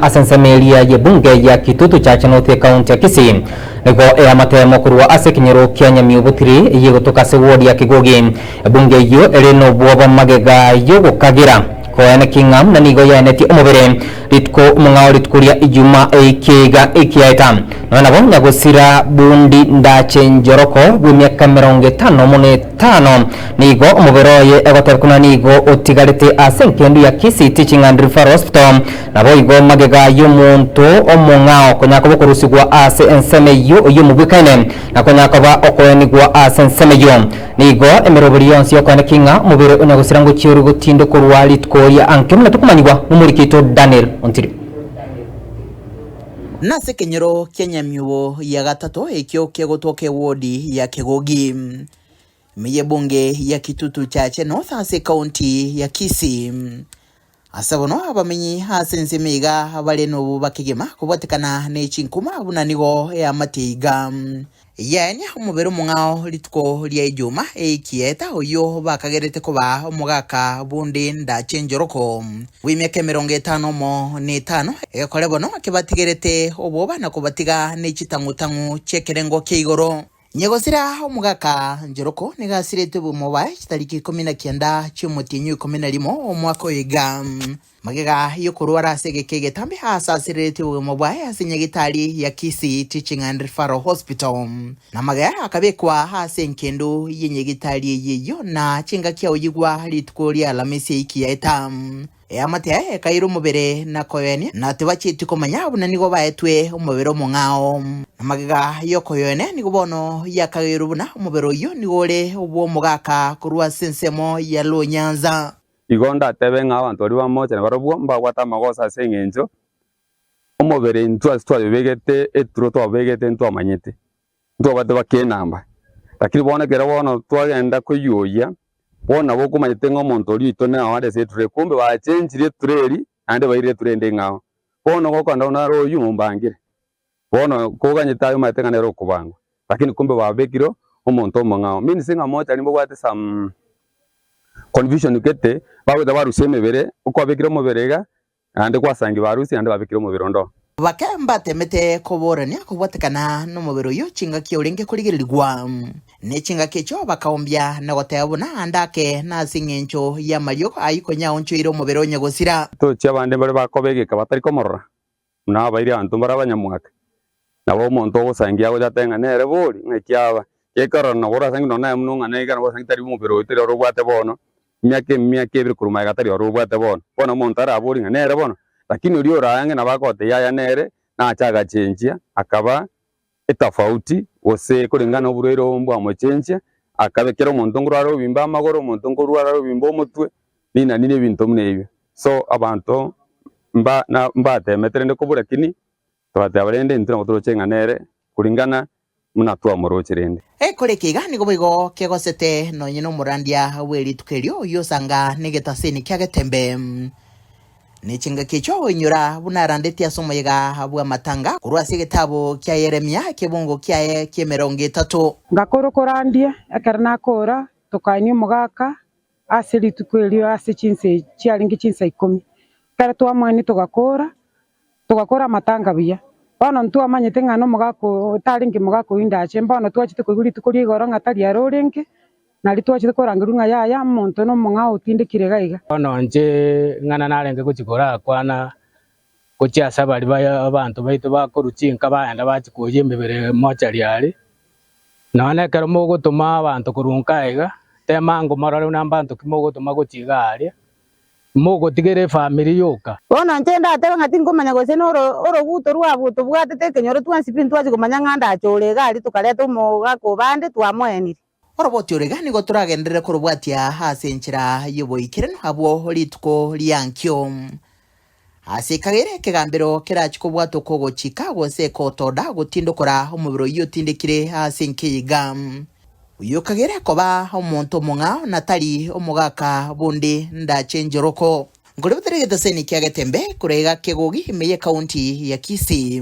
ase ensemo eria y'ebunge ya Kitutu Church North Ekaunti ya Kisii nigo eamatemo korwa ase ekenyoro kia Nyamiobutiri eyio egotoka ase ward ya Kigogi. Ebunge eyio ere nobwoba magega y'ogokagera koene king'a buna nigo yaenetie omobere rituko mong'ao rituko ria ijuma eike iga ekiaeta nonya nabo nyagosira bundi ndache njoroko bw'emiaka emerongo etano mono etano nigo omobere oye egoteba kona nigo otigarete ase enkendu ya Kisii Teaching and Referral Hospital Naboigo magega y'omonto omong'ao konya koba okorusigwa ase ensemo eyio oy'omobwekaine, na konya koba okoenigwa ase ensemo eyio. Nigo emeroberio yonsi y'okoaneka ing'a omobere onya gosira ngochia ore gotinda okorwa rituko ria anke buna tokomanyigwa nomoriki oito Daniel Ontiri. Nase ekenyoro kia nyamiubo ya gatato ekio kegotoka ewodi ya Kegogi, ime y'ebunge ya Kitutu Chache North ase ekaunti ya Kisii. Ase bono abamenyi ase ense ime iga bare nobo bakegema kobwatekana ne chinkuma buna nigo eamatie iga. Yaenia omobere omong'ao rituko ria ejuma ekieta oyio bakagerete koba omogaka bonde ndache enchoroko bw'emiaka emerongo etano omo netano, egekore bono ekebatigerete oboba na kobatiga ne chitang'u-tang'u chi'ekerengo kia igoro. Nyegosira omogaka Njeroko nigo asiretwe bw'omobae chitariki ikomi na kianda chi'omotienyi oikomi na rimo omwaka oiga. Magega y'okorwara ase egeka egetambe aasasereretwe bw'omobae ase nyagitari ya Kisii Teaching and Referral Hospital, na magega akabekwa ase enkendo ye nyagitari eyio na chingaki aoyigwa rituko ria Alamisi eiki yaeta. Eamate yaye ekaira omobere na koyoenia, na tibacheti komanya buna nigo baetwe omobere omong'ao. Na magega y'okoyoenia nigo bono yakageirwe buna omobere oyio nigo ore obw'omogaka korwa ase ensemo ya lonyansa. Igo ndatebe ng'a abanto baria bamoche na barabwo mbabwate amagoso ase engencho omobere intwe ase twayobegete eturo twabegete intwamanyete, Ntwabate bake enamba, lakini bono ekero bono twagenda koyuoyia, bono nabo okomanyete ng'a omonto oria oito nao are ase etureri, kumbe bachenchirie etureri naende bairire etureri ende ing'ao. Bono gokoenda ng'a nare oyio mombangire, bono koganyete aye omanyete ng'a nere okobangwa, lakini kumbe babekire omonto omong'ao, means ng'a mochari mbobwate some confusion gete, bagoeta barusia emebere, okwabekire omobere iga, Naende gwasangiwe arusi, naende babekire omobere ondo. Bake mbateemete koboorania kobwatekana nomobere oyio chingaki orenge korigererigwa. Ne chingaki echio bakaombia na goteeba buna ande ake, na ase engencho y'amariogo ayio konya aonchoire omobere onye gosira. Tochia abande mbare bakoba egeka batari komorora, buna abairi abanto mbare abanyamwake, Nabo omonto ogosangia agochate ng'a nere bori, ng'a ekiaba gekorora na korora ase eng'encho nonya naye buna ong'ana iga nabo osangi tari omobere oye teri ore obwate bono, emiaka emiaka ebere korwa magega tari ore obwate bono. Bono omonto arabori ng'a nere bono, lakini oria oraya ang'e nabo akote yaya nere nache agachenchia akaba etafauti gose koreng'ana na oborwaire obo mbwamochenchia, akaba ekero omonto nkorware obimbe amagoro, omonto nkorware obimbe omotwe, rinani na ebinto buna ebio. So abanto mba na mbateemete rende kobua, lakini Twateba rende intwe nabo toroche ng'a nere, kuringana buna twamoroche rende. Ekore eke iga nigo boigo kegosete nonye nomorandia bwe rituko erio, oyio osanga negetaseni kia getembe, ne chingaki echio oinyora buna arandetie ase omoyega bw'amatanga korwa ase egetabu kia Yeremia, ekebungo kiaye ki'emerongo etato. Ngakora okorandie, ekero nakoora, tokaini omogaka. Ase rituko erio ase chinsa echi chiarenge chinsa ikomi, ekero twamoenia togakoora, togakoora amatanga buya. Bono ntwamanyete ng'a nomogaka oo otarenge mogaka oyio ndache, mbono twachete koigwa rituko ria igoro ng'a tari are orenge, nario twachete korangerwa ng'a yaya omonto nomong'ao otindekire iga iga. Bono inche ing'ana narenge gochia korakwana gochia ase abari baye abanto baito bakorwa chinka bagenda bachia koyia emebere mochari are. Nonya na ekero mogotoma abanto korwa nka aiga, tema ango morore buna abanto ki mogotoma gochia iga aria, mogotigera efamiri yoka. Bono inche ndatebe ng'a tinkomanya gose noro oroguto rwabwo tobwatete ekenyoro twensi pi ntwachia komanya ng'a ndachore iga aria tokareta omogaka o bande twamoenire. Oroboti ore iga nigo toragenderere korobwatia ase enchera y'oboikeranu abwo rituko ria nkio. Ase ekagere ekegambero kerachie kobwatwa okogochika gose ekotoda gotindokora omobere oyio otindekire ase nkio yiga. Oyio okagere koba omonto omong'ao na tari omogaka bonde ndache njoroko. Nkorebete r'egeteseni kia Getembe, kore iga kegogi ime y'ekaunti ya Kisii.